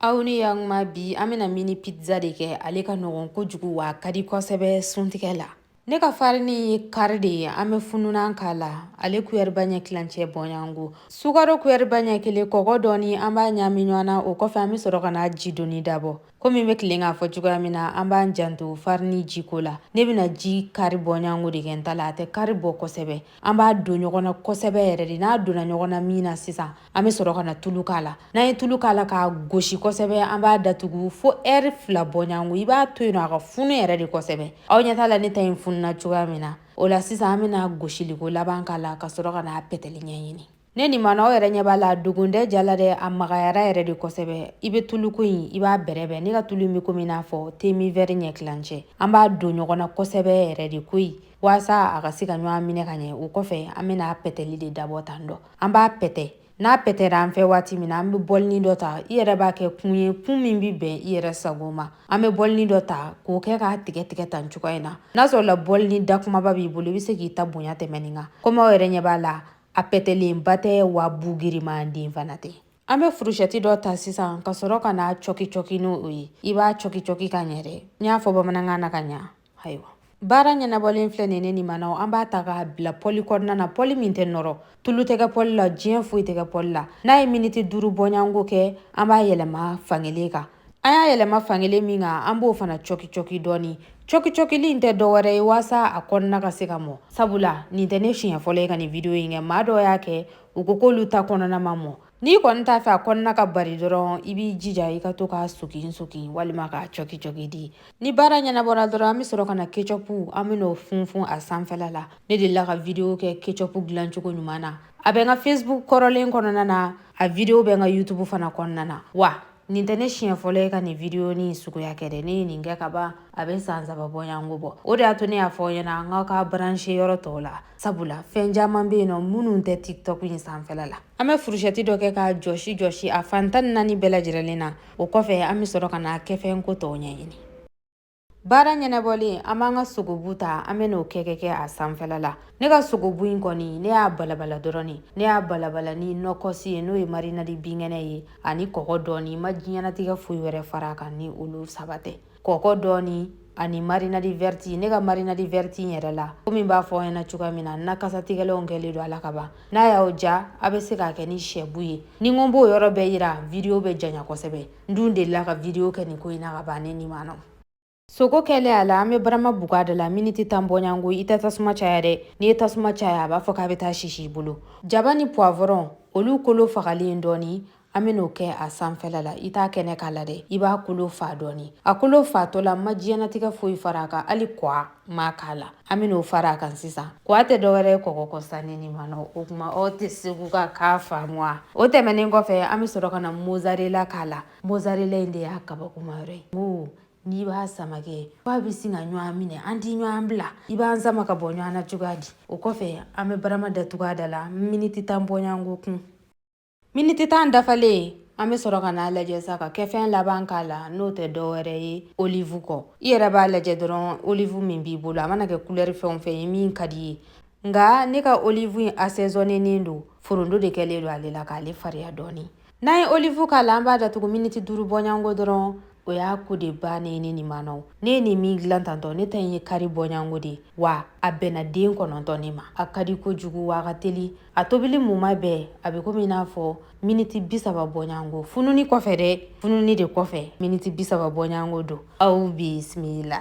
aw ni yakuma bi an bɛna mini pizza de kɛ ale ka nɔgɔn kojugu wa a ka di kosɛbɛ suntigɛ la ne ka farini ye kari de ye an bɛ fununan k'a la ale kuyɛriba ɲɛ tilancɛ bɔnyanko sukaro kuyɛriba ɲɛ kelen kɔgɔ dɔɔni an b'a ɲaami ɲɔgɔn na o kɔfɛ an bɛ sɔrɔ ka na ji donni dabɔ komi n bɛ deli k'a fɔ cogoya min na an b'an janto farini jiko la ne bɛna ji kari bɔnyanko de kɛ n ta la a tɛ kari bɔ kosɛbɛ an b'a don ɲɔgɔn na kosɛbɛ yɛrɛ de n'a donna ɲɔgɔn na min na sisan an bɛ sɔrɔ ka na tulu k'a la n'an ye tulu k'a la k'a gosi kosɛbɛ an b'a datugu fo ɛri fila bɔɲango i b'a to yen nɔ a ka funu yɛrɛ de kosɛbɛ aw ɲɛ t'a la ne ta in fununa cogoya min na o la sisan an bɛna gosiliko laban k'a la ka sɔrɔ ka n'a pɛtɛli ɲɛɲini ne nin mana aw yɛrɛ ɲɛ b'a la dogondɛ jala dɛ a magayara yɛrɛ de kosɛbɛ i bɛ tuluko in i b'a bɛrɛbɛn ne ka tulu in bɛ komi n'a fɔ temi vɛri ɲɛ tilancɛ an b'a don ɲɔgɔn na kosɛbɛ yɛrɛ de koyi waasa a ka se ka ɲɔgɔn minɛ ka ɲɛ o kɔfɛ an bɛna pɛtɛli de dabɔ tan dɔ an b'a pɛtɛ n'a pɛtɛra an fɛ waati min na an bɛ bɔlini dɔ ta i yɛrɛ b'a kɛ kun ye kun min bɛ bɛn i yɛrɛ sago ma an bɛ bɔlini dɔ ta k'o kɛ k'a tigɛ tigɛ tan cogoya in na n'a sɔrɔla bɔlini da kumaba b'i bolo i bɛ se k'i ta bonya tɛmɛ nin kan komi aw yɛrɛ ɲɛ b'a la a pɛtɛlenba tɛ wa bu giriman den fana tɛ an bɛ furushɛti dɔ ta sisan ka sɔrɔ ka n'a cɔki cɔki n'o ye i b'a cɔki cɔki ka ɲɛ dɛ n y'a fɔ bamanankan na ka ɲa ayiwa baara ɲɛnabɔlen filɛ nin ne nin manaw an b'a ta k'a bila pɔli kɔnɔna na pɔli min tɛ nɔrɔ tulu tɛ kɛ pɔli la diɲɛ foyi tɛ kɛ pɔli la n'a ye miniti duuru bɔɲanko kɛ an b'a yɛlɛma fankelen kan an y'a yɛlɛma fankelen min kan an b'o fana cɔki cɔki dɔɔni cɔki cɔkili in tɛ dɔwɛrɛ ye waasa a kɔnɔna ka se ka mɔ sabula nin tɛ ne siɲɛ fɔlɔ ye ka nin video in kɛ maa dɔw y'a kɛ u ko k'olu ta kɔnɔna ma mɔ n'i kɔni t'a fɛ a kɔnɔna ka bari dɔrɔn i b'i jija i ka to k'a sogin sogin walima k'a cɔki cɔki dɛ ni baara ɲɛnabɔra dɔrɔn an bɛ sɔrɔ ka na kecɔpu an bɛn'o funfun a sanfɛla la ne delila ka video kɛ kecɔpu dilancogo ɲuman na a bɛ n ka facebook kɔrɔlen kɔnɔna na a video bɛ n ka youtube fana kɔnɔna na wa nin tɛ ne siɲɛ fɔlɔ ye ka nin video in suguya kɛ dɛ ne ye nin kɛ ka ban a bɛ san saba bɔɲango bɔ o de y'a to ne y'a fɔ aw ɲɛna an ka ka branche yɔrɔ tɔw la sabula fɛn caman bɛ yen nɔ minnu tɛ tiktok in sanfɛla la an bɛ furusɛti dɔ kɛ k'a jɔsi jɔsi a fan tan ni naani bɛɛ lajɛrɛlen na o kɔfɛ an bɛ sɔrɔ ka n'a kɛfɛn ko tɔw ɲɛɲini baara ɲɛnabɔlen an b'an ka sogobu ta an bɛn'o kɛkɛ kɛ a sanfɛla la ne ka sogobu in kɔni ne y'a balabala dɔrɔn ne ne y'a balabala ni nɔkɔsi ye n'o ye marinadi binkɛnɛ ye ani kɔgɔ dɔɔni n ma diɲɛnatigɛ foyi wɛrɛ far'a kan ni olu saba tɛ kɔkɔ dɔɔni ani marinadi vɛriti ne ka marinadi vɛriti in yɛrɛ la komi n b'a fɔ aw ɲɛna cogoya min na na kasatigɛlanw kɛlen don a la ka ban n'a y'aw diya aw bɛ se k'a kɛ ni sɛbu ye ni n ko n b'o yɔrɔ bɛɛ yira vidiyo bɛ janya kosɛbɛ n dun delila ka vidiyo kɛ nin ko in na ka ban ne nin manaw sogo kɛlen a la an bɛ barama bugu a da la miniti tan bɔɲango i tɛ tasuma caya dɛ n'i ye tasuma caya a b'a fɔ k'a bɛ taa sisi i bolo jaba ni puwavɔrɔn olu kolo fagalen dɔɔni an ben'o kɛ a sanfɛla la i t'a kɛnɛ k'a la dɛ i b'a kolo fa dɔɔni a kolo fatɔ la ma diɲɛnatigɛ foyi fara a kan hali kɔa ma k'a la an ben'o fara a kan sisan kɔa tɛ dɔwɛrɛ ye kɔgɔ kɔ sanni ni manɔ o kuma aw tɛ segu ka kan faamuya o tɛmɛnen kɔfɛ an be sɔrɔ ka na mozarela k'a la mozarela in de y'a kabakoma yɔrɔ ye ko n'i b'a sama kɛ f'a be sin ka ɲɔgɔn minɛ a tɛ ɲɔgɔn bila i b'a sama ka bɔ ɲɔgɔn na cogoya di o kɔfɛ an be barama datugu a da la miniti tan bɔɲɔgɔnko kun Miniti tan dafalen an bɛ sɔrɔ ka n'a lajɛ sa ka kɛ fɛn laban k'a la n'o tɛ dɔwɛrɛ ye olive kɔ i yɛrɛ b'a lajɛ dɔrɔn olive min b'i bolo a mana kɛ kulɛri fɛn o fɛn ye min ka d'i ye nka ne ka olive in asɛzɔnennen don forondo de kɛlen don ale la k'ale fariya dɔɔni n'an ye olive k'a la an b'a datugu miniti duuru bɔɲango dɔrɔn o y'a ko de ban ye ne nin mana ne ye nin min dilan tantɔ ne ta in ye kare bɔɲango de wa a bɛnna den kɔnɔntɔn ne ma a ka di kojugu wa a ka teli a tobili muma bɛɛ a bɛ komi n'a fɔ miniti bi saba bɔɲango fununi kɔfɛ dɛ fununi de kɔfɛ miniti bi saba bɔɲango don aw bisimila